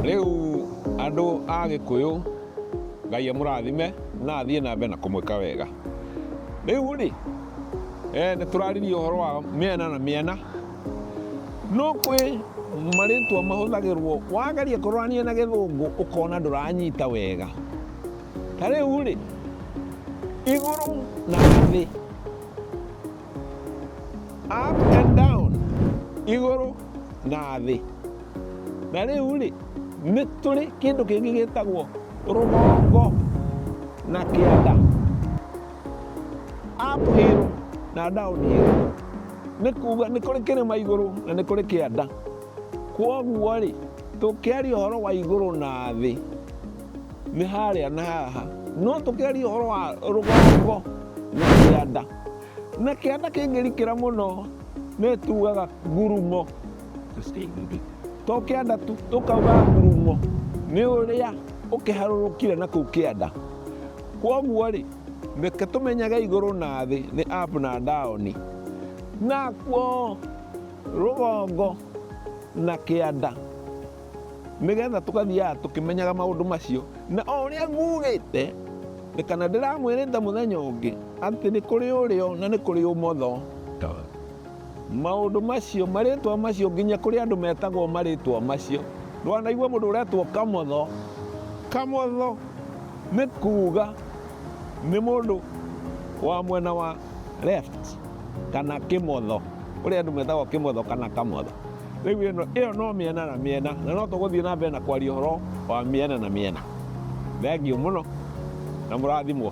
rĩu andũ a gĩkũyũ ngai amũrathime na athiĩ na mbere na kũmwĩka wega rĩu rĩ eh, nĩ tũraririe ũhoro wa mĩena na mĩena no kwĩ marĩtwa mahũthagĩrwo wageria kũrorania na gĩthũngũ ũkona ndũranyita wega ta rĩu rĩ igũrũ na thĩ up and down igũrũ na thĩ na rĩu rĩ nĩ tũrĩ kĩndũ kĩngĩ gĩtagwo rũgongo na kĩanda up hill na down hill nĩ kuga nĩ kũrĩ kĩrĩma igũrũ na nĩ kũrĩ kĩanda kwoguo rĩ tũkĩaria ũhoro wa igũrũ na thĩ nĩ harĩa na haha no tũkĩaria ũhoro wa rũgongo na kĩanda na kĩanda kĩngĩrikĩra mũno nĩ tugaga ngurumo to kĩanda tu tũkauga ngurumo nĩ ũrĩa ũkĩharũrũkire na kũu kĩanda kwoguo rĩ reke tũmenyage igũrũ na thĩ nĩ up na down nakuo rũgongo na kĩanda Nĩgetha tũgathiaga tũkĩmenyaga maũndũ macio, na o ũrĩa ngugĩte, nĩ kana ndĩramwĩrĩte mũthenya ũngĩ, atĩ nĩ kũrĩ ũrĩo na nĩ kũrĩ ũmotho, maũndũ macio, marĩtwa macio, nginya kũrĩ andũ metagwo marĩtwa macio. Ndwanaigua mũndũ ũretwo kamotho? Kamotho nĩ kuuga nĩ mũndũ wa mwena wa left kana kimotho uria andu metagwo kimotho kana kamotho riu ino iyo no miena na miena na no tuguthie na mbere na kwaria horo wa miena na miena thengiu muno na murathimwo